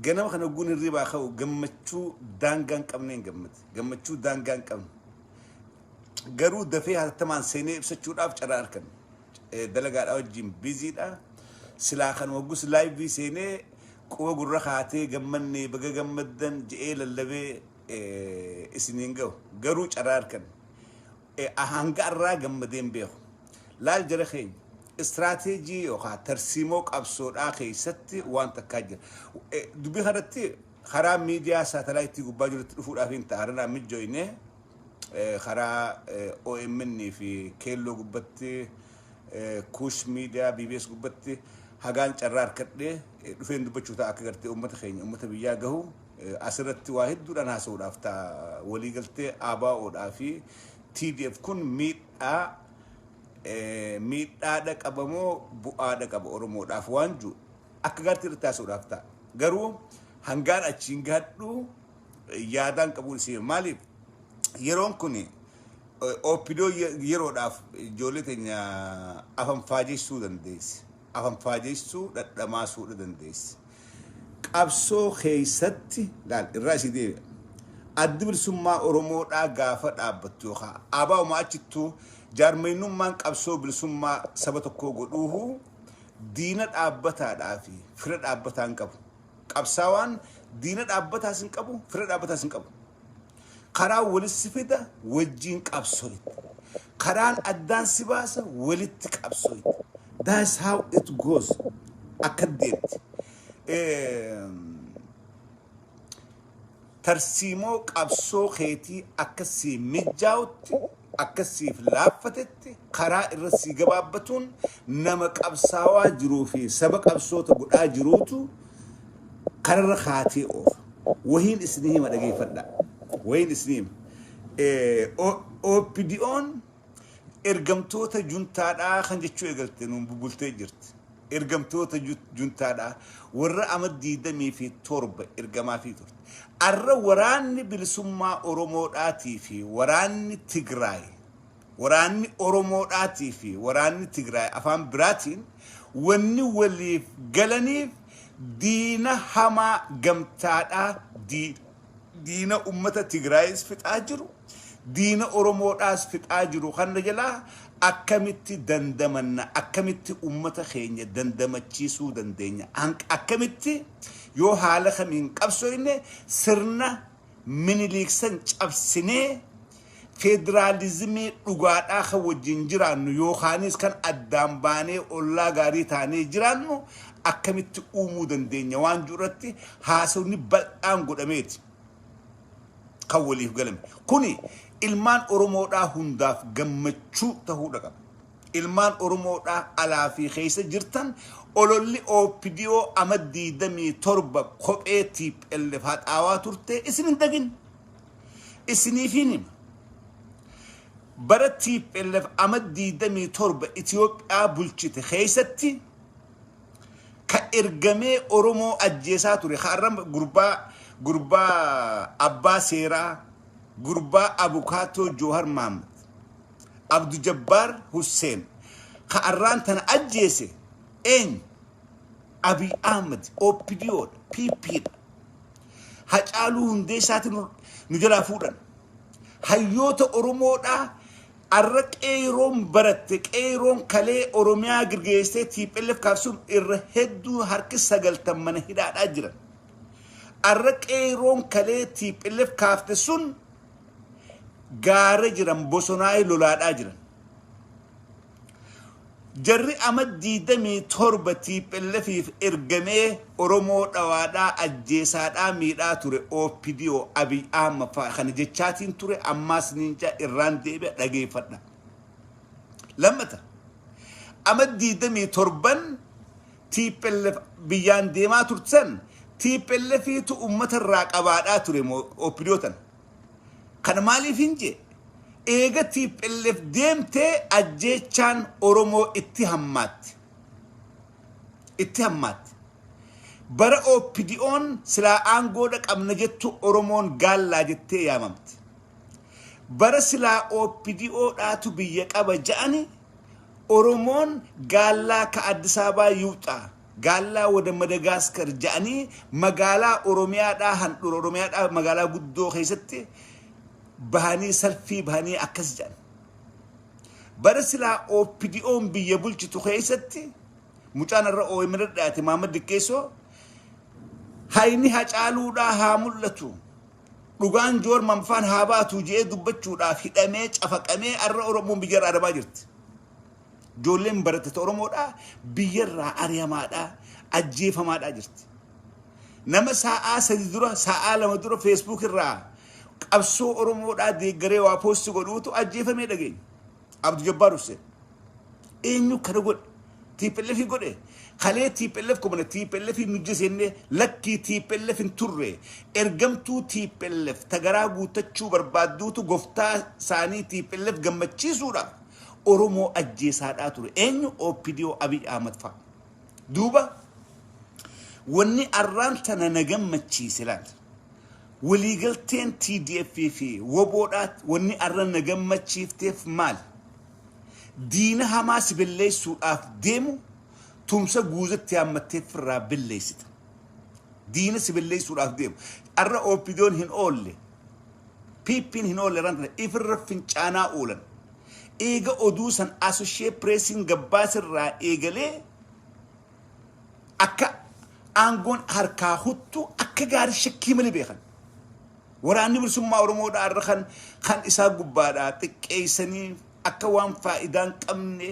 Ganama kana ogguun hirribaa ka'u gammachuu daangaa hin qabneen gammade. Gammachuu daangaa hin qabne. Garuu dafee hatattamaan seenee ibsachuudhaaf carraa arganne. Eh, Dalagaadhaa wajjin biziidha. Silaa kan oggus laayivii seenee quba gurra kaatee gammannee baga gammaddan je'ee lallabee eh, isiniin ga'u. Garuu carraa arganne. hanga arraa gammadee hin beeku. Laal jara keenya, istiraateejii yookaan tarsiimoo qabsoodhaa keessatti waan takkaa jira. Dubbii kanatti karaa miidiyaa saatalaayitii gubbaa jirutti dhufuudhaaf hin ta'a. Har'anaa mijjooyne karaa OMN fi keelloo gubbatti kuush miidiyaa BBS gubbatti hagaan carraa harkadhee dhufeen dubbachuu ta'a akka gartee uummata keenya uummata biyyaa gahu. As irratti waa hedduudhaan haasa'uudhaaf ta'a. Waliigaltee ABO dhaa fi TDF kun miidhaa miidhaa dhaqaba moo bu'aa dhaqaba Oromoodhaaf waan jiru akka gaariitti irratti haasa'uudhaaf ta'a. Garuu hangaan achiin gahadhu yaadaan qabuun isii maaliif yeroon kun OPDO yeroodhaaf ijoollee teenya afaan faajeessuu dandeessi. afanfaajeessuu dhadhamaasuudha dandeessi. Qabsoo keessatti laal irraa isii deebi'a. Addi bilisummaa Oromoodhaa gaafa dhaabbattu yookaan ABO'uma achittuu jaarmaynummaan qabsoo bilisummaa saba tokkoo godhuuhu diina dhaabbataadhaa fi fira dhaabbataa hin qabu. Qabsaawaan diina dhaabbataas hin qabu, fira dhaabbataas hin qabu. Karaan walis si fida wajjiin qabsooyta. Karaan addaan si baasa walitti qabsooyta. That's how it goes. Akka deemti. Eh, Tarsiimoo qabsoo keetii akka sii mijjaawutti, akka siif laaffatetti, karaa irra sii gabaabbatuun nama qabsaawaa jiruu fi saba qabsoota godhaa jiruutu kararra kaatee oofa. Wahiin isinii hima dhageeffadhaa. Wahiin isinii hima. OPDOn. Ergamtoota juntaadha kan jechuu eegalte nuun bubultee jirti. Ergamtoota juntaadha warra ama 27 ergamaafii turte. Arra waraanni bilisummaa Oromoodhaatii fi waraanni Tigraay waraanni Oromoodhaatii fi waraanni Tigraay afaan biraatiin wanni waliif galaniif diina hamaa gamtaadha D. diina ummata Tigraayis fixaa jiru, diina Oromoodhaas fixaa jiru kanna jalaa akkamitti dandamanna, akkamitti ummata keenya dandamachiisuu dandeenya, akkamitti yoo haala kamiin qabsooyne sirna Miniliik san cabsinee Federaalizimii dhugaadhaa kan wajjin jiraannu yookaanis kan addaan baanee ollaa gaarii taanee jiraannu akkamitti uumuu dandeenya waan jedhu irratti haasofni bal'aan godhameeti kan waliif galame. Kuni ilmaan Oromoodhaa hundaaf gammachuu tahuudha qaba. Ilmaan Oromoodhaa alaa fi keessa jirtan ololli OPDO ama 27 kophee TPLF haxaawaa turte isin hin dagin. Isiniifin hima. Bara TPLF ama 27 Itoophiyaa bulchite keessatti ka ergamee Oromoo ajjeesaa ture ka arra gurbaa gurbaa abbaa seeraa gurbaa abukaatoo Joohar Mahammad Abdu Jabbaar Husseen ka arraan tana ajjeese eenyu? Abiy Ahmed OPDO dha, PP dha. Hacaaluu Hundeessaati nu nu jalaa fuudhan. Hayyoota Oromoodhaa arra qeeyroon baratte qeeyroon kalee Oromiyaa girgeessee TPLF kaabsuuf irra hedduu harki sagaltan mana hidhaadhaa jiran. Arra qeeyroon kalee TPLF kaafte sun gaara jiran bosonaa'ee lolaadhaa jiran. Jarri ama 27 TPLFif ergamee Oromoo dhawaadhaa, ajjeesaadhaa, miidhaa ture OPDO, Abiy Ahmad fa'a kana jechaatiin ture ammaas niin ja'a irraan deebi'a dhageeffadha. Lammata ama 27n TPLF biyyaan deemaa turtan TPLFiitu ummata irraa qabaadhaa ture moo OPDO tana? Kana maaliif hin jee? Eega TPLF deemtee ajjeechaan Oromoo itti hammaatte. Itti hammaatte. Bara OPDOn silaa aangoodha qabna jettu Oromoon gaallaa jettee yaamamte. Bara silaa OPDO dhaatu biyya qaba ja'ani Oromoon gaallaa ka Addis Ababaa yuuxaa Gaallaa wada Madagaaskar ja'anii magaalaa Oromiyaadhaa handhura Oromiyaadhaa magaalaa guddoo keessatti bahanii salfii bahanii akkas ja'an. Bara silaa OPDOn biyya bulchitu keessatti mucaan irra OMN irra dhiyaate Maamad Diqqeessoo hayni hacaaluudhaa haa mul'atu. Dhugaan Joor Manfaan haa baatu je'ee dubbachuudhaaf hidhamee cafaqamee arra Oromoon biyya irraa adamaa jirti. Ijoolleen barattota Oromoodhaa biyyarraa ari'amaadhaa, ajjeefamaadhaa jirti. Nama saa'aa sadi dura, saa'aa lama dura Facebook irraa qabsoo Oromoodhaa deeggaree waa poosti godhuutu ajjeefamee dhageenya. Abdu Jabbaar Hussein. Eenyu kana godhe? TPLF godhe? Kalee TPLF kubana TPLF nujje seenne lakkii TPLF hin turre. Ergamtuu TPLF tagaraa guuttachuu barbaadduutu goftaa saanii TPLF gammachiisuudhaaf Oromoo ajjeesaadhaa ture. Eenyu OPDO Abiy Ahmad fa'a. Duuba wanni arraan tana na gammachiise laal. Waliigalteen TDF fi woboodhaa wanni arra na gammachiifteef maal? Diina hamaa si belleessuudhaaf deemu tumsa guuzetti hammattee firraa belleessita. Diina si belleessuudhaaf deemu. Arra OPDOn hin oolle. PPn hin oolle ran tana ifirra fincaanaa oolan. Eega oduu san Associate Pressiin gabbaaserraa eegalee akka aangoon harkaa huttu akka gaarii shakkii malee beekan. Waraanni bilisummaa Oromoodhaa irra kan kan isaa gubbaadhaa xiqqeessanii akka waan faayidaa hin qabne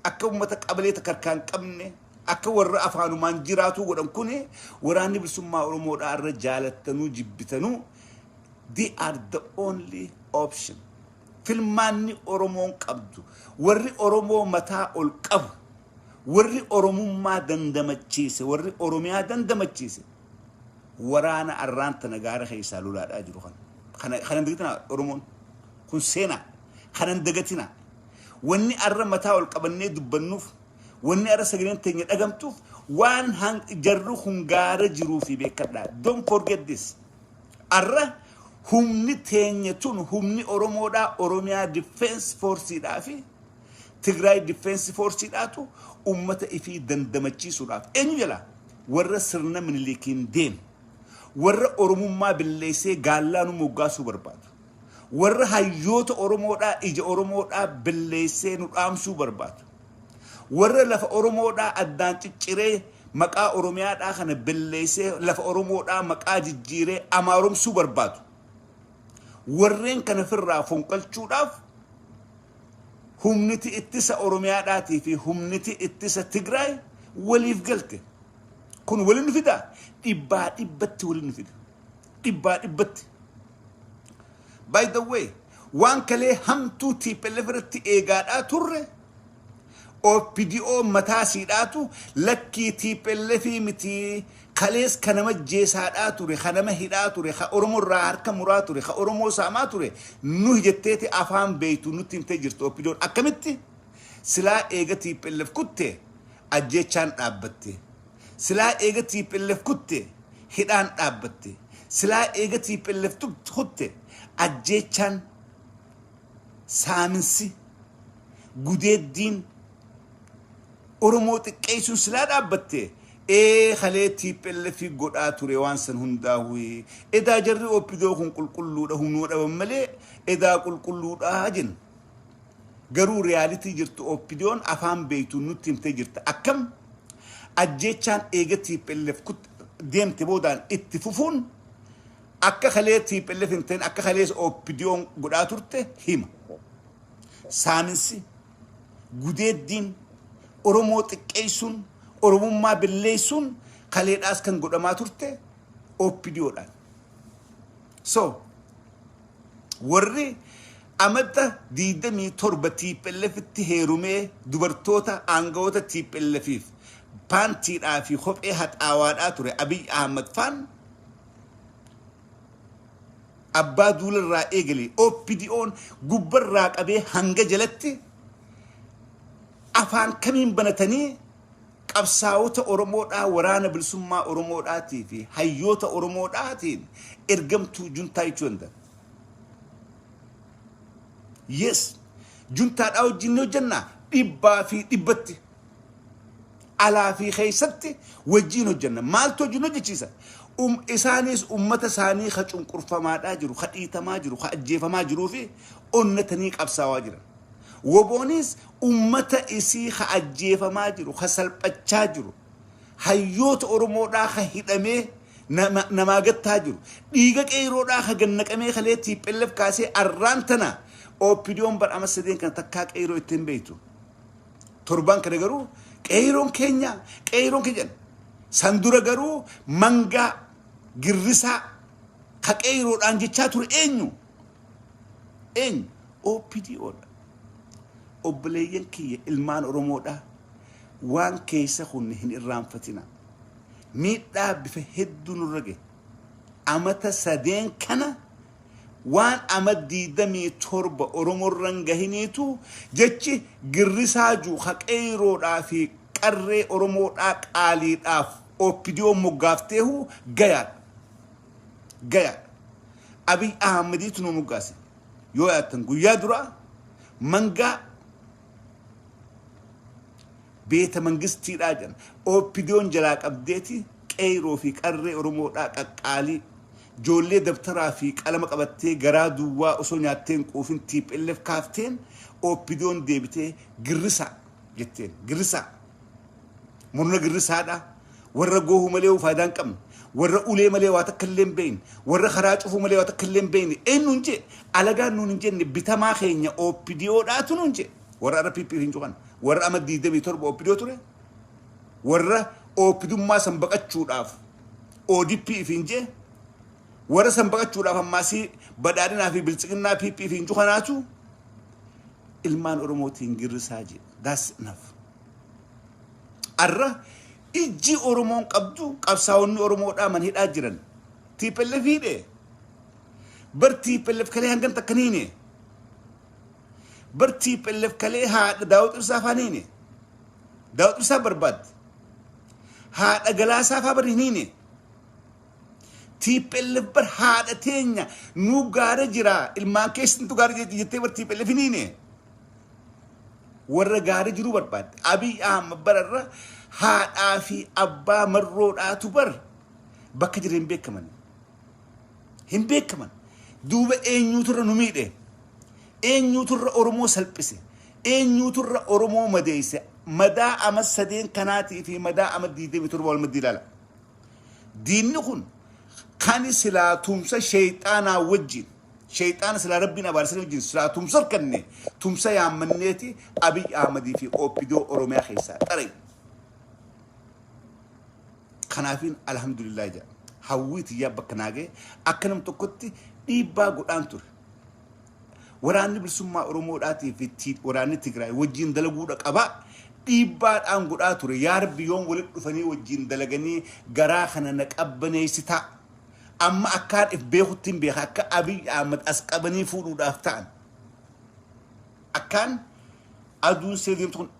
akka uummata qabalee takka harkaa hin qabne akka warra afaanumaan jiraatuu godhan kun waraanni bilisummaa Oromoodhaa irra jaalattanuu jibbitanuu They are the only option. Filmaanni Oromoon qabdu warri Oromoo mataa ol qabu warri Oromummaa dandamachiise warri Oromiyaa dandamachiise waraana arraan tana gaara keessaa lolaadhaa jiru kana. Kana kana hin dagatinaa Oromoon kun seenaa kana hin dagatinaa. Wanni arra mataa ol qabannee dubbannuuf Wanni ara sagaleen teenya dhagamtuuf waan han jarri kun gaara jiruufi beekkadha. Don't forget this. Arra humni teenya tun humni Oromoodhaa Oromiyaa Defense Forceedhaa fi Tigraay Defense Forceedhaatu ummata ifii dandamachiisuudhaaf eenyu jala warra sirna miniliikiin deeme warra Oromummaa billeessee gaallaa nu moggaasuu barbaadu. Warra hayyoota Oromoodhaa ija Oromoodhaa belleessee nu dhaamsuu barbaadu. Warra lafa Oromoodhaa addaan cicciree maqaa Oromiyaadhaa kana belleessee lafa Oromoodhaa maqaa jijjiiree Amaaromsuu barbaadu. Warreen kana firraa fonqalchuudhaaf humniti ittisa Oromiyaadhaatii fi humniti ittisa Tigraay waliif galte. Kun wali nu fida? Dhibbaa dhibbatti wali nu fida. dhibbaa dhibbatti. By the way, waan kalee hamtuu TPLF irratti eegaadhaa turre OPDO mataa siidhaatu lakkii TPLF miti kalees ka nama jeesaadhaa ture, ka nama hidhaa ture, ka Oromoo irraa harka muraa ture, ka Oromoo saamaa ture nuhi jetteeti afaan beeytu nutti himtee jirtu OPDOn akkamitti silaa eega TPLF kutte ajjeechaan dhaabbatte. Silaa eega tplf kutte hidhaan dhaabbatte. Silaa eega tplf kutte ajjeechaan, saaminsi, gudeeddiin, Oromoo xiqqeessuun silaa dhaabbatte ee kalee tplf godhaa ture waan san hundaahuu edaa jarri opdo kun qulqulluudha hunoo dhaban malee edaa qulqulluudha jenna. Garuu reality jirtu OPDOn afaan beektuun nutti himtee jirta. Akkam? Ajjeechaan eega tplf kut deemte boodaan itti fufuun akka kalee tplf hin ta'in akka kalees OPDOn godhaa turte hima. Saaminsi, gudeeddiin, Oromoo xiqqeessuun, Oromummaa belleessuun kaleedhaas kan godhamaa turte OPDOdhaan. So, Warri Amajja 27 TPLFtti heerumee dubartoota aangawoota TPLFiif paantiidhaa fi kophee haxaawaadhaa ture Abiy Ahmad faan abbaa duula irraa eegalee OPDOn gubbarraa qabee hanga jalatti afaan kamiin banatanii Qabsaawota Oromoodhaa Waraana Bilisummaa Oromoodhaatii fi Hayyoota Oromoodhaatiin ergamtuu Juntaa jechuu danda'a. Yes, Juntaadhaa wajjin ni hojjenna dhibbaa fi dhibbatti. Alaa fi keessatti wajjin hojjenna. Maaltu wajjin hojjechiisa? Um, isaanis ummata isaanii ka cunqurfamaadhaa jiru, ka dhiitamaa jiru, ka ajjeefamaa jiruu fi onnatanii qabsaawaa jiran. Woboonis ummata isii ka ajjeefamaa jiru, ka salphachaa jiru, hayyoota Oromoodhaa ka hidhamee namaa gattaa jiru, dhiiga qeeyroodhaa ka gad naqamee kalee tplf kaasee arraan tana OPDOn bar ama sadeen kana takkaa qeeyroo itti hin beeytu. Torbaan kana garuu qeeyroon keenya qeeyroon keenya jedhan. San dura garuu mangaa girrisaa ka qeeyroodhaan jechaa ture eenyu? Eenyu? OPDO dha. Obboleeyyan kiyya ilmaan Oromoo dha. Waan keessa kunne hin irraanfatina. Miidhaa bifa hedduu nurra gahe. Amata sadeen kana waan ama diidamii torba Oromorran gahiniitu jechi girrisaa juu ka qeeyroodhaa fi qarree Oromoodhaa qaaliidhaaf OPDO moggaafteehu gayaadha. gayaadha. Abiy Ahmediitu nu moggaase. Yoo yaattan guyyaa duraa mangaa beeta mangistiidhaa jedhan. OPDOn jalaa qabdeeti qeeyroo fi qarree Oromoodhaa qaqqaalii. Joollee dabtaraa fi qalama qabattee garaa duwwaa osoo nyaattee hin quufin TPLF kaafteen OPDOn deebitee girrisaa. jetteen girrisaa murna girrisaadha warra goohu malee faayidaa hin qabne warra ulee malee waa takka illee hin beekne warra karaa cufuu malee waa takka illee hin beekne eenyuun jee alagaan nuun hin jenne bitamaa keenya OPDOdhaatu nuun jee warra irra PP hin cuqan warra ama 27 OPDO ture warra OPDummaa san baqachuudhaaf ODP hin jee warra san baqachuudhaaf ammaasii badhaadhinaa fi biltsiginnaa PP hin cuqanaatu ilmaan oromootiin girrisaa jee that's enough arra ijji oromoon qabdu qabsaa'onni oromoodhaa man hidhaa jiran tiipellef hidhe bar tiipellef kalee hangan takkan hiine bar tiipellef kalee haadha daawud ibsaa afaan hiine daawud ibsaa barbaadde haadha galaasaa faa bar hin hiine Tplf bar haadha teenya nu gaara jira ilmaan keessantu gaara jira jettee bar tplf hin hiine warra gaara jiru barbaadde abiy ahmad bara irra haadhaa fi abbaa marroodhaatu bar bakka jira hin beekaman hin beekaman duuba eenyuutu irra nu miidhe eenyuutu irra oromoo salphise eenyuutu irra oromoo madeeyse madaa ama sadeen kanaatii fi madaa ama 27 wal maddi ilaala Diinni kun kani silaa tumsa sheyxaanaa wajjin sheyxaana silaa rabbiin abaarsanii wajjin silaa tumsa harkanne tumsa yaammanneeti Abiy Ahmadii fi OPDO Oromiyaa keessaa xarayu. Kanaafiin alhamdulillah jedha. Hawwii tiyyaa bakka naagee akka nam tokkotti dhiibbaa godhaan ture. Waraanni Bilisummaa Oromoodhaatii fi T- waraanni Tigraay wajjin dalaguudha qaba. Dhiibbaadhaan godhaa ture. Yaa Rabbi yoom walitti dhufanii wajjin dalaganii garaa kana na qabbaneessitaa. Amma akkaan if beekutti hin beeka akka Abiy Ahmad as qabanii fuudhuudhaaf ta'an. Akkaan aduun see deemtu kun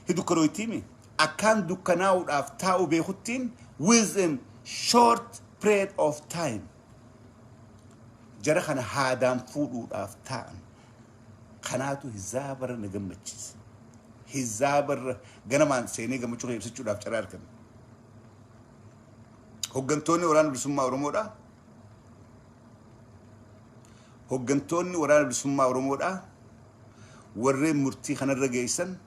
hin dukkanooytiimi. Akkaan dukkanaa'uudhaaf taa'u beekuttiin within short period of time. Jara kana haadaan fuudhuudhaaf taa'an. Kanaatu hizaabarra na gammachiise. Hizaabarra ganamaan seenee gammachuu kee ibsachuudhaaf carraa argame. Hoggantoonni waraana bilisummaa Oromoodhaa hoggantoonni waraana bilisummaa Oromoodhaa warreen murtii kanarra geessan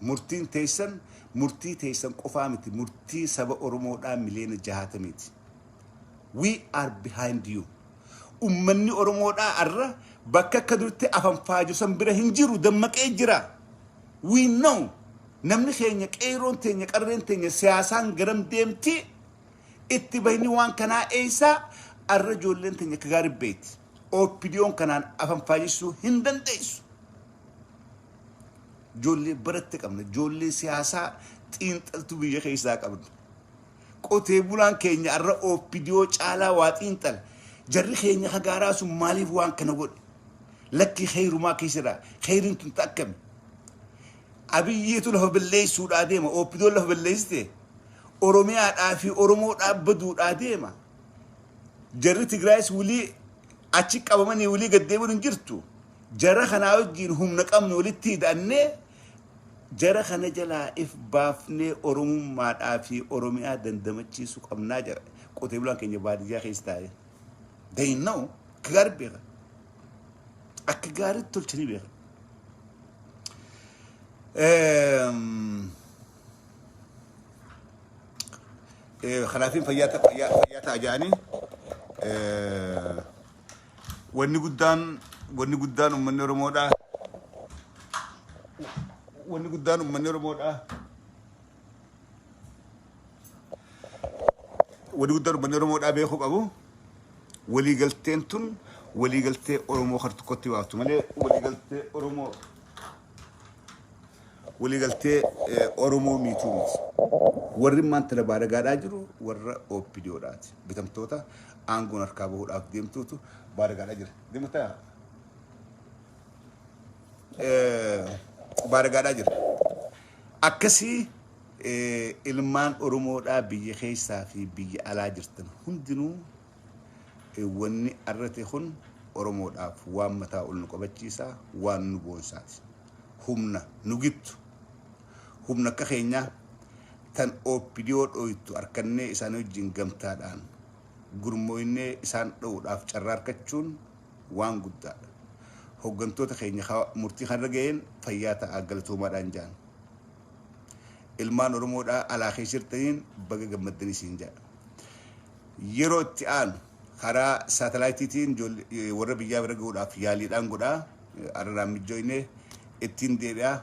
murtiin teessan murtii teessan qofaa miti murtii saba Oromoodhaa miliyoona jahaatamiiti. We are behind you. Ummanni Oromoodhaa arra bakka akka durti afanfaaju san bira hin jiru dammaqee jira. We know namni keenya qeeyroon teenya qarreen teenya siyaasaan garam deemti itti bahni waan kanaa eeysaa arra ijoolleen teenya akka gaari beeyti. OPDOn kanaan afanfaajessuu hin dandeessu. Ijoollee baratte qabna. Ijoollee siyaasaa xiinxaltuu biyya keessaa qabna. Qotee bulaan keenya arra opdo caalaa waa xiinxala. Jarri keenya ka gaaraa sun maaliif waan kana godhe? Lakkii kheeyrumaa keessa jira. Kheeyriin tun ta akkami? Abiyyiitu lafa balleessuudhaa deema. Opdoon lafa balleessite. Oromiyaadhaa fi Oromoodhaa baduudhaa deema. Jarri Tigraayis wulii achi qabamanii wulii gaddeemuun hin jirtu. Jara kanaa wajjin humna qabnu walitti hidhannee Jara kana jalaa if baafnee Oromummaadhaa fi Oromiyaa dandamachiisu qabnaa jara qotee bulaan keenya baadiyyaa keessa taa'ee. They know akka gaarii beeka. Akka gaariitti tolchanii beeka. Ehm, eh, Kanaafin fayyaa ta- fayyaa- fayyaa ta'a jedhanii eh, Wanni guddaan wanni guddaan uummanni Oromoodha. Wanni guddaan uummanni Oromoodha. Wanni guddaan uummanni Oromoodha beekuu qabu. Waliigalteen tun waliigaltee Oromoo hartukkootti baaftu malee waliigaltee Oromoo waliigaltee Oromoo miituu miti. Warri immaan tana baaragaadhaa jiru warra OPDO dhaati. Bitamtoota aangoon harkaa bahuudhaaf deemtuutu baaragaadhaa jira. Deemataa baaragaadhaa jira. Akkasii ilmaan Oromoodhaa biyya keessaa fi biyya alaa jirtan hundinuu Wanni arra ta'e kun Oromoodhaaf waan mataa ol nu qabachiisa, waan nu boonsaati. Humna nu gittu, humna akka keenyaa tan OPDO dhooytu arkannee isaanii wajjin gamtaadhaan gurmooynee isaan dhowuudhaaf carraa arkachuun waan guddaadha. Hoggantoota keenya ka murtii kanarra gayeen fayyaa ta'aa galatoomaadhaan jaan. Ilmaan Oromoodhaa alaa keessa jirtaniin baga gammaddanii siin jaa. Yeroo itti aanu karaa saatalaayitiitiin warra biyyaa bira gahuudhaaf yaaliidhaan godhaa. Araraan mijjooyne ittiin deebi'aa.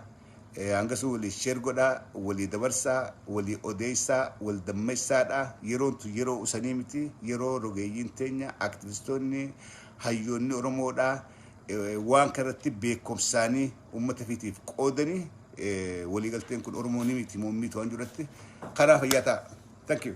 Hangasuu walii sheer godhaa, walii dabarsaa, walii odeessaa, wal dammessaadhaa. Yeroon tun yeroo usanii miti. Yeroo rogeeyyiin teenya, aktivistoonni, hayyoonni Oromoodhaa waan kanarratti beekomsaanii uummata fiitiif qoodanii waliigalteen kun Oromoo ni miiti moo hin miitu waan jirutti karaa fayyaa ta'a. Thank you.